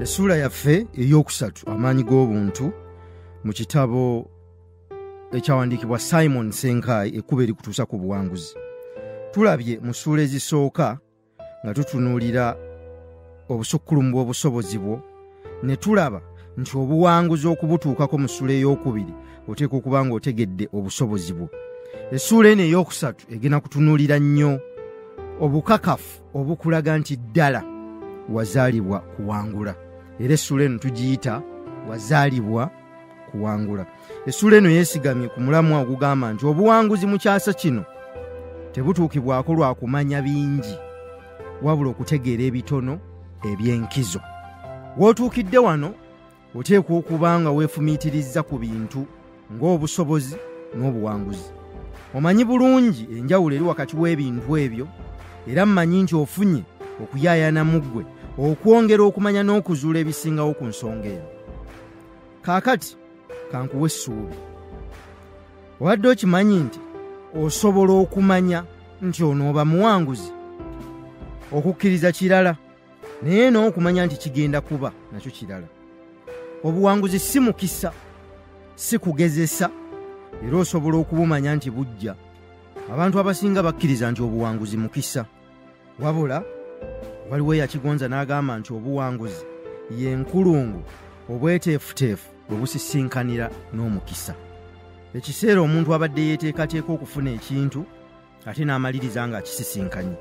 essuula yaffe ey'okusatu amaanyi g'obuntu mu kitabo ekyawandiikibwa simon senkai ekkuba erikutuusa ku buwanguzi tulabye mu ssuula ezisooka nga tutunuulira obusukkulumu bw'obusobozi bwo ne tulaba nti obuwanguzi okubutuukako mu ssuula ey'okubiri oteeka okuba nga otegedde obusobozi bwo essuula eno ey'okusatu egenda kutunuulira nnyo obukakafu obukulaga nti ddala wazaalibwa kuwangula era essuula eno tugiyita wazaalibwa kuwangula essuula eno yeesigamye ku mulamwa ogugamba nti obuwanguzi mu kyasa kino tebutuukibwako lwa kumanya bingi wabula okutegeera ebitono eby'enkizo w'otuukidde wano oteekwa okuba nga weefumiitirizza ku bintu ng'obusobozi n'obuwanguzi omanyi bulungi enjawulo eri wakati w'ebintu ebyo era mmanyi nti ofunye okuyaayana mu ggwe okwongera okumanya n'okuzuula ebisingawo ku nsonga eno kaakati kankuwa essuubi obadde okimanyi nti osobola okumanya nti onooba muwanguzi okukkiriza kirala naye n'okumanya nti kigenda kuba nakyo kirala obuwanguzi si mukisa si kugezesa era osobola okubumanya nti bujja abantu abasinga bakkiriza nti obuwanguzi mukisa wabula waliwo eyakigonza n'agamba nti obuwanguzi ye nkulungu obweteefuteefu bwe busisinkanira n'omukisa ekiseera omuntu abadde yeeteekateeka okufuna ekintu ate n'amaliriza nga akisisinkanye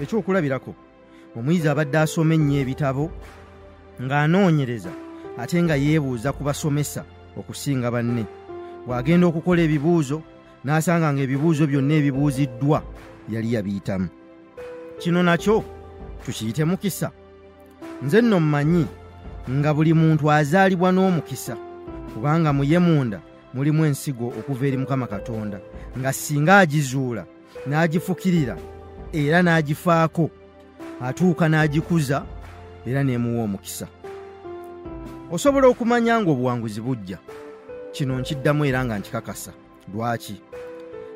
ekyokulabirako omuyizi abadde asoma ennyo ebitabo ng'anoonyereza ate nga yeebuuza ku basomesa okusinga banne bw'agenda okukola ebibuuzo n'asanga ng'ebibuuzo byonna ebibuuziddwa yali yabiyitamu kino nakyo tukiyite mukisa nze nno mmanyi nga buli muntu azaalibwa n'omukisa kubanga mu ye munda mulimu ensigo okuva eri mukama katonda nga singa agizuula n'agifukirira era n'agifaako atuuka n'agikuza era n'emuwa omukisa osobola okumanya ng'obuwanguzi bujja kino nkiddamu era nga nkikakasa lwaki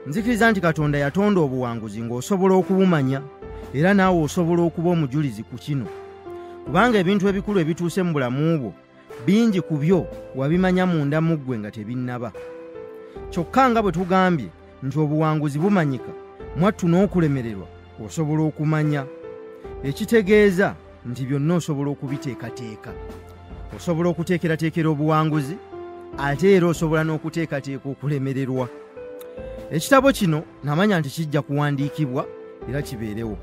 nzikiriza nti katonda yatonda obuwanguzi ng'osobola okubumanya era naawe osobola okuba omujulizi ku kino kubanga ebintu ebikulu ebituuse mu bulamu bwo bingi ku byo wabimanya munda mu ggwe nga tebinnaba kyokka nga bwe tugambye nti obuwanguzi bumanyika mwattu n'okulemererwa osobola okumanya ekitegeeza nti byonna osobola okubiteekateeka osobola okuteekerateekera obuwanguzi ate era osobola n'okuteekateeka okulemererwa ekitabo kino namanya nti kijja kuwandiikibwa era kibeerewo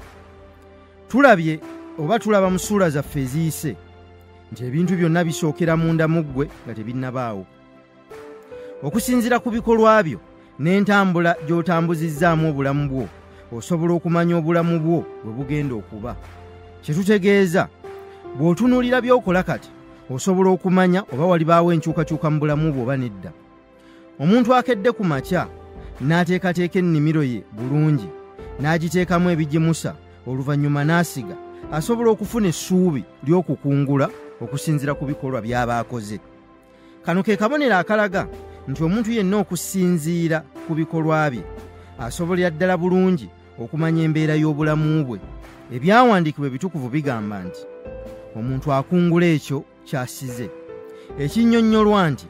tulabye oba tulaba mu ssuula zaffe eziyise nti ebintu byonna bisookera munda mu ggwe nga tebinnabaawo okusinzira ku bikolwa byo n'entambula gy'otambuzizzaamu obulamu bwo osobola okumanya obulamu bwo bwe bugenda okuba kye tutegeeza bw'otunuulira by'okola kati osobola okumanya oba walibaawo enkyukakyuka mu bulamu bwo oba nedda omuntu akedde ku makya n'ateekateeka ennimiro ye bulungi n'agiteekamu ebigimusa oluvannyuma n'asiga asobola okufuna essuubi ly'okukungula okusinzira ku bikolwa by'aba akoze kano ke kabonero akalaga nti omuntu yenna okusinziira ku bikolwa bye asobolera ddala bulungi okumanya embeera y'obulamu bwe ebyawandiikibwa ebitukuvu bigamba nti omuntu akungula ekyo kyasize ekinnyonnyolwa nti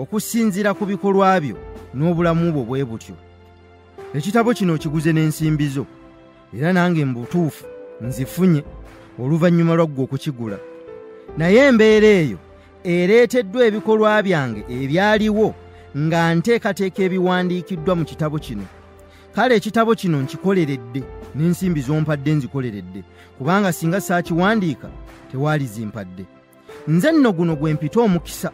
okusinziira ku bikolwa byo n'obulamu bwo bwe butyo ekitabo kino kiguze n'ensimbi zo era nange mu butuufu nzifunye oluvannyuma lwaggwe okukigula naye embeera eyo ereeteddwa ebikolwa byange ebyaliwo nga nteekateeka ebiwandiikiddwa mu kitabo kino kale ekitabo kino nkikoleredde n'ensimbi zompadde nzikoleredde kubanga singa saakiwandiika tewaali zimpadde nze nno guno gwe mpita omukisa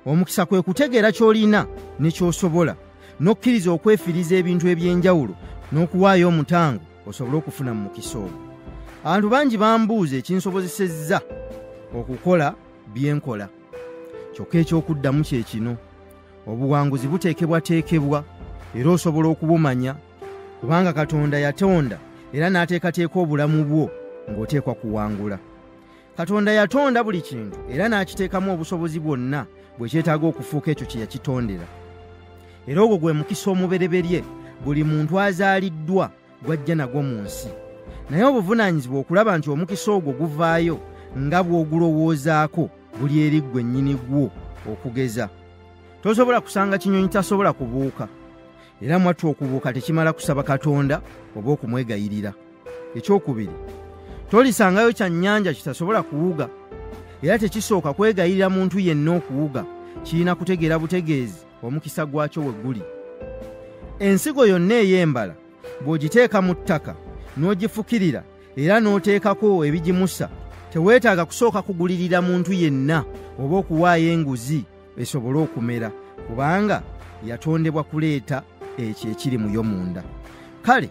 omukisa kwe kutegeera ky'olina ne ky'osobola n'okkiriza okwefiriza ebintu eby'enjawulo n'okuwaayo omutango osobole okufuna mu mukisa ogwo abantu bangi bambuuza ekinsobozesezza okukola bye nkola kyokka eky'okuddamu kye kino obuwanguzi buteekebwateekebwa era osobola okubumanya kubanga katonda yatonda era n'ateekateeka obulamu bwo ng'oteekwa kuwangula katonda yatonda buli kintu era n'akiteekamu obusobozi bwonna bwe kyetaaga okufuuka ekyo kye yakitondera era ogwo gwe mukisa omubereberye buli muntu azaaliddwa gw'ajja nagwo mu nsi naye obuvunaanyizibwa okulaba nti omukisa ogwo guvaayo nga bw'ogulowoozaako buli eri ggwe nnyini gwo okugeza tosobola kusanga kinyonyi tasobola kubuuka era mwattu okubuuka tekimala kusaba katonda oba okumwegayirira ekyokubiri tolisangayo kya nnyanja kitasobola kuwuga era tekisooka kwegayirira muntu yenna okuwuga kirina kutegeera butegeezi omukisa gwakyo we guli ensigo yonna ey'embala bw'ogiteeka mu ttaka n'ogifukirira era n'oteekako ebigimusa teweetaaga kusooka kugulirira muntu yenna oba okuwaayo enguzi esobole okumera kubanga yatondebwa kuleeta ekyo ekiri muyo munda kale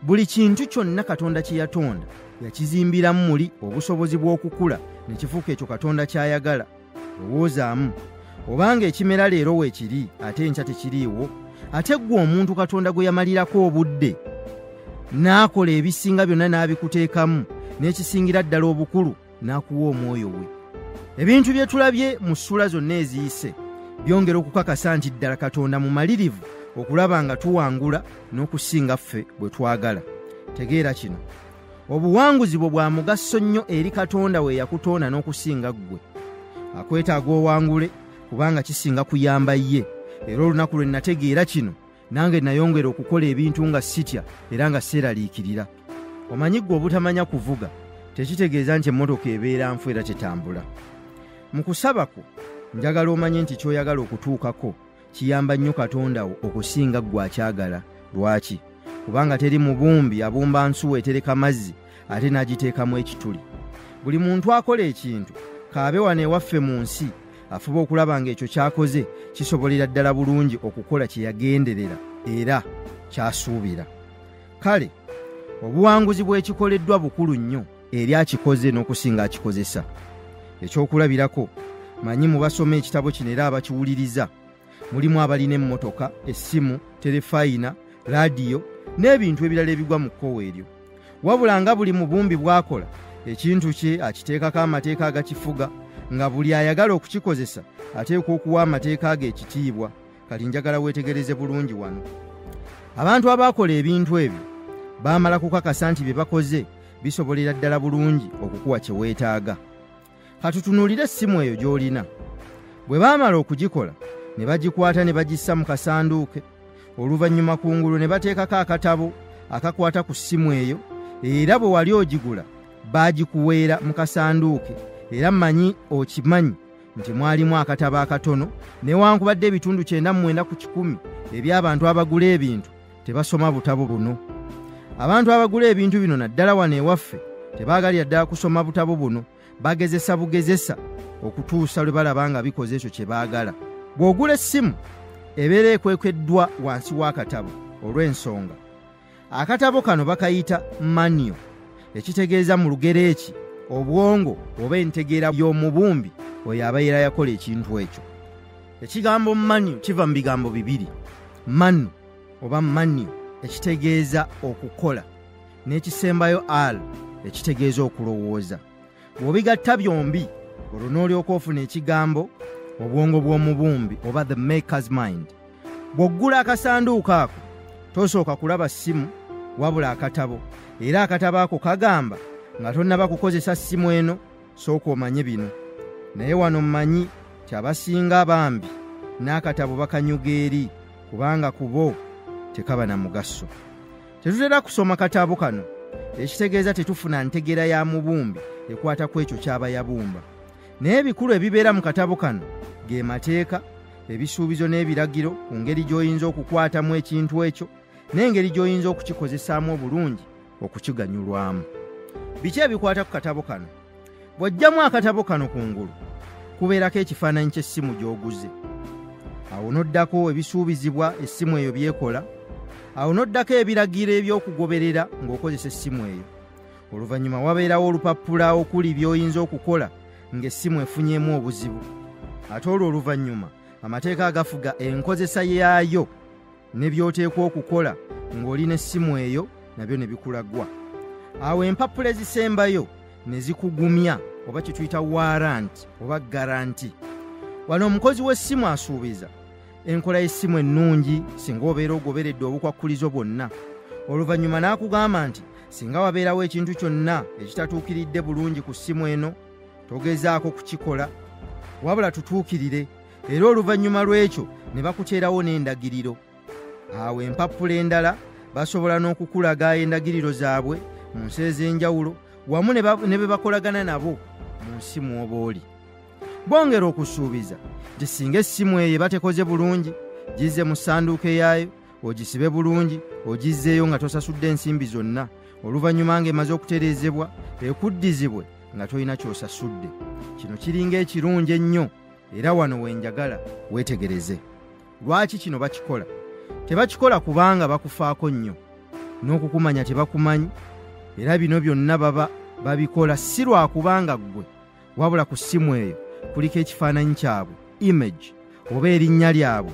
buli kintu kyonna katonda kye yatonda yakizimbiramu muli obusobozi bw'okukula ne kifuuka ekyo katonda ky'ayagala lowoozaamu obanga ekimera leero weekiri ate enkya tekiriiwo ate ggwe omuntu katonda gwe yamalirako obudde n'akola ebisinga byonna n'abikuteekamu n'ekisingira ddala obukulu n'akuwa omwoyo we ebintu bye tulabye mu ssuula zonna eziyise byongera okukakasa nti ddala katonda mumalirivu okulaba nga tuwangula n'okusinga ffe bwe twagala tegeera kino obuwanguzi bwo bwa mugaso nnyo eri katonda we yakutonda n'okusinga ggwe akwetaaga owangule kubanga kisinga kuyamba ye era olunaku lwe nategeera kino nange nayongera okukola ebintu nga sitya era nga seeraliikirira omanyi ggwe obutamanya kuvuga tekitegeeza nti emmotoka ebeera nfu era tetambula mu kusaba kwo njagala omanye nti ky'oyagala okutuukako kiyamba nnyo katonda wo okusinga ggwe akyagala lwaki kubanga teri mubumbi abumba nsuwa etereka mazzi ate n'agiteekamu ekituli buli muntu akola ekintu kaabe wano ewaffe mu nsi afuba okulaba ng'ekyo ky'akoze kisobolera ddala bulungi okukola kye yagenderera era ky'asuubira kale obuwanguzi bw'ekikoleddwa bukulu nnyo eri akikoze n'okusinga akikozesa ekyokulabirako manyi mu basoma ekitabo kino era abakiwuliriza mulimu abalina emmotoka essimu terefayina laadiyo n'ebintu ebirala ebigwa mu kkowa eryo wabula nga buli mubumbi bw'akola ekintu kye akiteekako amateeka agakifuga nga buli ayagala okukikozesa ateekwa okuwa amateeka ago ekitiibwa kati njagala weetegereze bulungi wano abantu abaakola ebintu ebyo baamala kukakasa nti bye bakoze bisobolera ddala bulungi okukuwa kye weetaaga katutunuulire essimu eyo gy'olina bwe baamala okugikola ne bagikwata ne bagissa mu kasanduuke oluvannyuma ku ngulu ne bateekako akatabo akakwata ku ssimu eyo era bwe wali ogigula baagikuweera mu kasanduuke era mmanyi okimanyi nti mwalimu akatabo akatono newankubadde ebitundu kyenda mu mwenda ku kikumi eby'abantu abagula ebintu tebasoma butabo buno abantu abagula ebintu bino naddala wano ewaffe tebaagalira ddala kusoma butabo buno bagezesa bugezesa okutuusa lwe balaba nga bikoze ekyo kye baagala bw'ogula essimu ebeera ekwekweddwa wansi w'akatabo olw'ensonga akatabo kano bakayita maniyo ekitegeeza mu lugero eki obwongo oba entegeera y'omubumbi oyo abaera yakola ekintu ekyo ekigambo manu kiva mu bigambo bibiri manu oba manio ekitegeeza okukola n'ekisembayo al ekitegeeza okulowooza bw'obigatta byombi olwo n'olyoka ofuna ekigambo obwongo bw'omubumbi oba the makers mind bw'oggula akasanduuko ako tosooka kulaba ssimu wabula akatabo era akatabo ako kagamba nga tonnaba kukozesa ssimu eno sooka omanye bino naye wano mmanyi kyabasinga bambi n'akatabo bakanyuga eri kubanga ku bo tekaba na mugaso tetutera kusoma katabo kano ekitegeeza tetufuna ntegeera ya mubumbi ekwata ku ekyo ky'aba yabumba naye ebikulu ebibeera mu katabo kano ge mateeka ebisuubizo n'ebiragiro ku ngeri gy'oyinza okukwatamu ekintu ekyo n'engeri gy'oyinza okukikozesaamu obulungi okukiganyulwamu biki ebikwata ku katabo kano bw'oggyamu akatabo kano ku ngulu kubeerako ekifaananyi ky'essimu gy'oguze awo n'oddako ebisuubizibwa essimu eyo by'ekola awo n'oddako ebiragiro eby'okugoberera ng'okozesa essimu eyo oluvannyuma wabeerawo olupapula okuli by'oyinza okukola ng'essimu efunyeemu obuzibu ate olwo oluvannyuma amateeka agafuga enkozesa yaayo ne by'oteekwa okukola ng'oli n'essimu eyo nabyo ne bikulagwa awo empapula ezisembayo ne zikugumya oba kye tuyita waranti oba garanti wano omukozi w'essimu asuubiza enkola y'essimu ennungi singa obeera ogoberedde obukwakkulizo bwonna oluvannyuma n'akugamba nti singa wabeerawo ekintu kyonna ekitatuukiridde bulungi ku ssimu eno togezaako kukikola wabula tutuukirire era oluvannyuma lw'ekyo ne bakuteerawo n'endagiriro awo empappula endala basobola n'okukulaga endagiriro zaabwe mu nsi ez'enjawulo wamu ne be bakolagana nabo mu nsi mw'oba oli bongera okusuubiza nti singa essimu eyo batekoze bulungi gizze mu ssanduuko eyaayo ogisibe bulungi ogizzeeyo nga tosasudde ensimbi zonna oluvannyuma ng'emaze okutereezebwa ekuddizibwe nga tolina ky'osasudde kino kiringa ekirungi ennyo era wano wenjagala weetegereze lwaki kino bakikola tebakikola kubanga bakufaako nnyo n'okukumanya tebakumanyi era bino byonna baba babikola si lwakubanga ggwe wabula ku ssimu eyo kuliko ekifaananyi kyabwe image oba erinnya lyabwe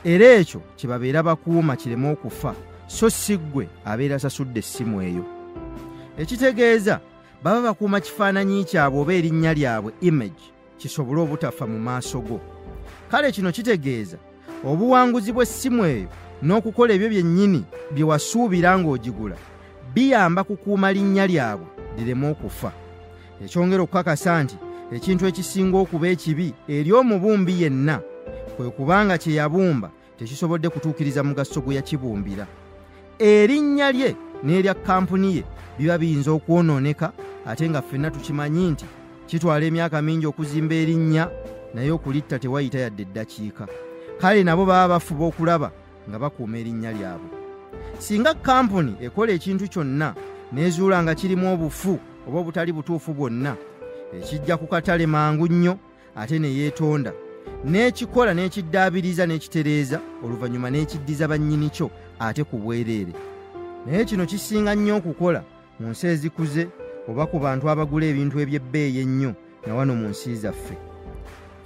era ekyo kye babeera bakuuma kireme okufa so si ggwe abeera asasudde essimu eyo ekitegeeza baba bakuuma kifaananyi kyabwe oba erinnya lyabwe image kisobole obutafa mu maaso go kale kino kitegeeza obuwanguzi bw'essimu eyo n'okukola ebyo byennyini bye wasuubira ng'ogigula biyamba kukuuma linnya lyabwe lireme okufa ekyongera okukakasa nti ekintu ekisinga okuba ekibi eri omubumbi yenna kwe kubanga kye yabumba tekisobodde kutuukiriza mugaso gwe yakibumbira erinnya lye n'erya kampuni ye biba biyinza okwonooneka ate nga ffenna tukimanyi nti kitwala emyaka mingi okuzimba erinnya naye okulitta tewayita yadde eddakiika kale nabo baba bafuba okulaba nga bakuuma erinnya lyabwe singa kampuni ekola ekintu kyonna n'ezuula nga kirimu obufu oba obutali butuufu bwonna ekijja ku katale mangu nnyo ate ne yeetonda n'ekikola n'ekiddaabiriza n'ekitereeza oluvannyuma n'ekiddiza bannyini kyo ate ku bwereere naye kino kisinga nnyo okukola mu nsi ezikuze oba ku bantu abagula ebintu eby'ebbeeyi ennyo na wano mu nsi zaffe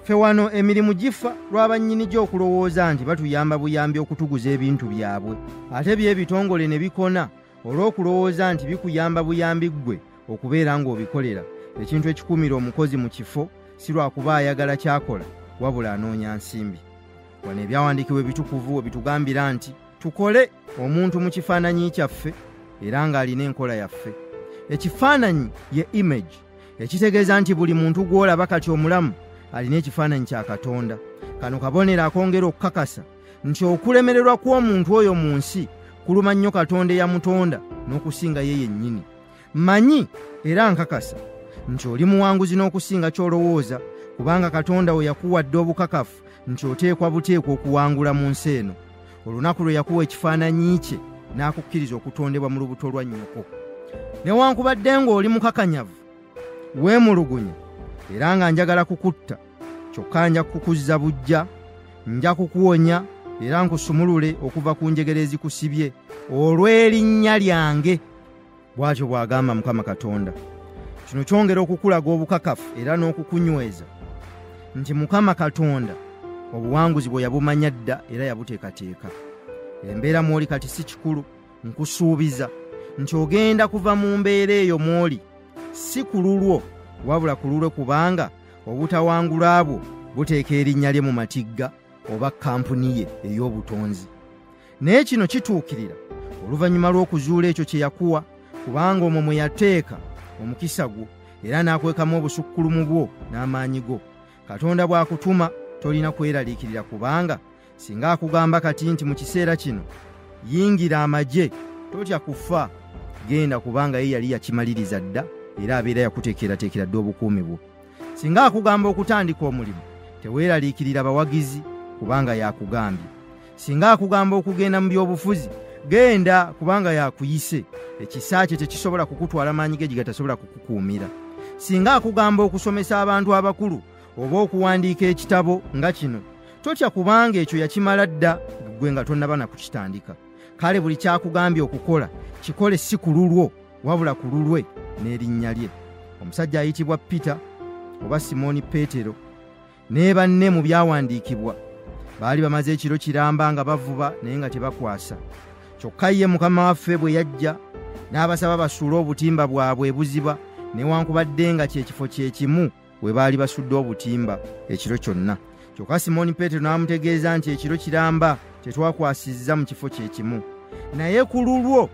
ffe wano emirimu gifa lw'abannyini gyo okulowooza nti batuyamba buyambi okutuguza ebintu byabwe ate by'ebitongole ne bikona olw'okulowooza nti bikuyamba buyambi ggwe okubeera ng'obikolera ekintu ekikuumira omukozi mu kifo si lwakuba ayagala kyakola wabula anoonya nsimbi wano ebyawandiikibwa ebitukuvu we bitugambira nti tukole omuntu mu kifaananyi kyaffe era ng'alina enkola yaffe ekifaananyi ye image ekitegeeza nti buli muntu gw'olaba kati omulamu alina ekifaananyi kya katonda kano kabonero akongera okukakasa nti okulemererwa kw'omuntu oyo mu nsi kuluma nnyo katonda eyamutonda n'okusinga ye yennyini manyi era nkakasa nti oli muwanguzi n'okusinga ky'olowooza kubanga katonda we yakuwadde obukakafu nti oteekwa buteekwa okuwangula mu nsi eno olunaku lwe yakuwa ekifaananyi kye n'akukkiriza okutondebwa mu lubuto lwa nnyoko newankubadde ng'oli mukakanyavu weemulugunya era nga njagala kukutta kyokka nja kukuzza bujja nja kukuwonya era nkusumulule okuva ku njegere ezikusibye olw'erinnya lyange bw'atyo bw'agamba mukama katonda kino kyongera okukulaga obukakafu era n'okukunyweza nti mukama katonda obuwanguzi bwe yabumanya dda era yabuteekateeka embeera mw'oli kati si kikulu nkusuubiza nti ogenda kuva mu mbeera eyo mw'oli si ku lulwo wabula ku lulwe kubanga obutawangula bwo buteeka erinnya lye mu matigga oba kampuni ye ey'obutonzi naye kino kituukirira oluvannyuma lw'okuzuula ekyo kye yakuwa kubanga omwo mwe yateeka omukisa gwo era n'akwekamu obusukkulumu bwo n'amaanyi go katonda bw'akutuma tolina kweraliikirira kubanga singa akugamba kati nti mu kiseera kino yingira amagye totya kufa genda kubanga ye yali yakimaliriza dda era abeera yakuteekerateekera dda obukuumi bwo singa akugamba okutandika omulimu teweeraliikirira bawagizi kubanga yakugambye singa akugamba okugenda mu byobufuzi genda kubanga yakuyise ekisa kye tekisobola kukutwala maanyi ge gigatasobola kukukuumira singa akugamba okusomesa abantu abakulu oba okuwandiika ekitabo nga kino totya kubanga ekyo yakimala dda ggwe nga tonnaba na kukitandika kale buli kyakugambye okukola kikole si ku lulwo wabula ku lulwe n'erinnya lye omusajja ayitibwa peter oba simooni peetero ne banne mu byawandiikibwa baali bamaze ekiro kiramba nga bavuba naye nga tebakwasa kyokka ye mukama waffe bwe yajja n'abasaba basuule obutimba bwabwe ebuziba newankubadde nga kyekifo kyekimu we baali basudde obutimba ekiro kyonna kyokka simooni peetero n'amutegeeza nti ekiro kiramba tetwakwasizza mu kifo kye kimu naye ku lulwo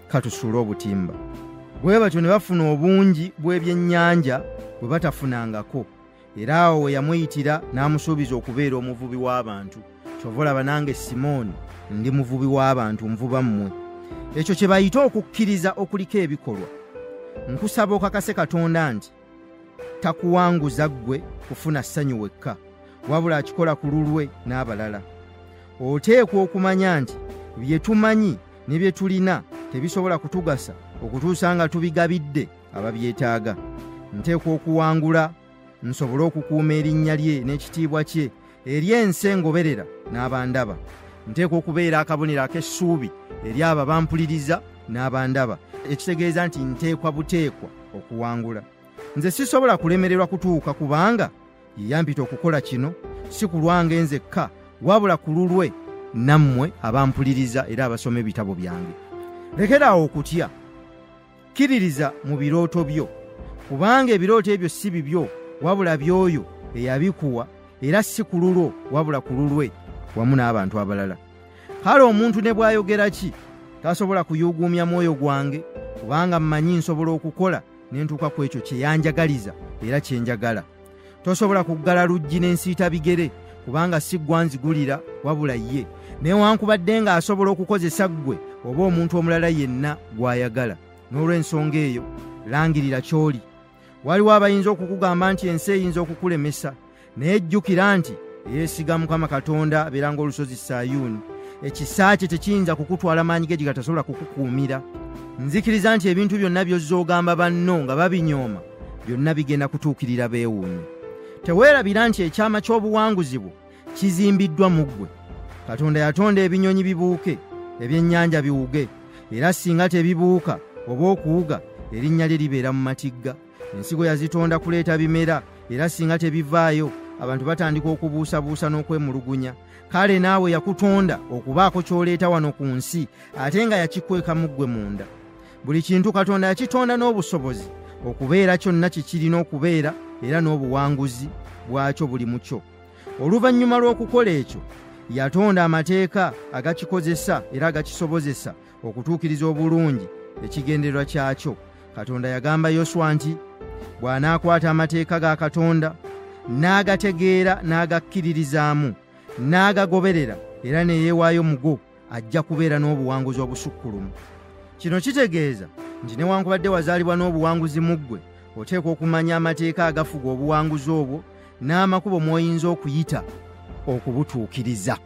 katusuule obutimba bwe batyo ne bafuna obungi bw'ebyennyanja bwe batafunangako era awo we yamuyitira n'amusuubiza okubeera omuvubi w'abantu kyova olaba nange simooni ndi muvubi w'abantu nvuba mmwe ekyo kye bayita okukkiriza okuliko ebikolwa nkusaba okakase katonda nti takuwanguza ggwe kufuna ssanyu wekka wabula akikola ku lulwe n'abalala oteekwa okumanya nti bye tumanyi ne bye tulina tebisobola kutugasa okutuusa nga tubigabidde ababyetaaga nteekwa okuwangula nsobole okukuuma erinnya lye n'ekitiibwa kye eri ensi engoberera n'abandaba nteekwa okubeera akabonero ak'essuubi eri abo abampuliriza n'abandaba ekitegeeza nti nteekwa buteekwa okuwangula nze sisobola kulemererwa kutuuka kubanga ye yampita okukola kino si ku lwange nzekka wabula ku lulwe nammwe abampuliriza era abasoma ebitabo byange lekeraawo okutya kkiririza mu birooto byo kubanga ebirooto ebyo si bibyo wabula by'oyo eyabikuwa era si ku lulwo wabula ku lulwe wamu n'abantu abalala kale omuntu ne bw'ayogera ki tasobola kuyuuguumya mwoyo gwange kubanga mmanyi nsobola okukola ne ntuuka ku ekyo kye yanjagaliza era kye njagala tosobola kuggala luggi n'ensiita bigere kubanga si ggwanzigulira wabula ye newankubadde ng'asobola okukozesa ggwe oba omuntu omulala yenna gw'ayagala n'olw'ensonga eyo langirira ky'oli waliwo abayinza okukugamba nti ensi eyinza okukulemesa naye jjukira nti eyeesiga mukama katonda abeera ng'olusozi sayuuni ekisa kye tekiyinza kukutwala maanyi ge gigatasobola kukukuumira nzikiriza nti ebintu byonna by'ozza ogamba banno nga babinyooma byonna bigenda kutuukirira beewuunye teweerabira nti ekyama ky'obuwanguzi bwo kizimbiddwa mu ggwe katonda yatonda ebinyonyi bibuuke ebyennyanja biwuge era singa tebibuuka oba okuwuga erinnya lye libeera mu matigga ensigo yazitonda kuleeta bimera era singa tebivaayo abantu batandika okubuusabuusa n'okwemulugunya kale naawe yakutonda okubaako ky'oleeta wano ku nsi ate nga yakikwekamu ggwe munda buli kintu katonda yakitonda n'obusobozi okubeera kyonna kikirina okubeera era n'obuwanguzi bwakyo buli mu kyo oluvannyuma lw'okukola ekyo yatonda amateeka agakikozesa era agakisobozesa okutuukiriza obulungi ekigendererwa kyakyo katonda yagamba yoswa nti bw'anaakwata amateeka ga katonda n'agategeera n'agakkiririzaamu n'agagoberera era ne yeewaayo mugo ajja kubeera n'obuwanguzi obusukkulumu kino kitegeeza nti newankubadde wazaalibwa n'obuwanguzi mu ggwe oteekwa okumanya amateeka agafuga obuwanguzi obwo n'amakubo mw'oyinza okuyita okubutuukiriza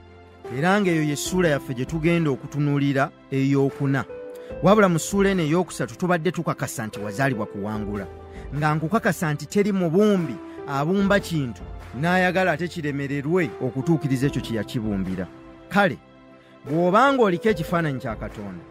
era ng'eyo ye ssuula yaffe gye tugenda okutunuulira ey'okuna wabula mu ssuula eno ey'okusatu tubadde tukakasa nti wazaalibwa kuwangula nga nkukakasa nti teri mubumbi abumba kintu n'ayagala ate kiremererwe okutuukiriza ekyo kye yakibumbira kale bw'oba ng'oliko ekifaananyi kya katonda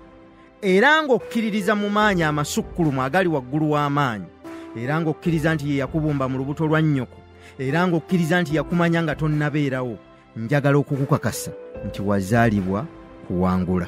era ng'okkiririza mu maanyi amasukkulumu agali waggulu w'amaanyi era ng'okkiriza nti ye yakubumba mu lubuto lwa nnyoko era ng'okkiriza nti yakumanya nga tonnabeerawo njagala okukukakasa nti wazaalibwa kuwangula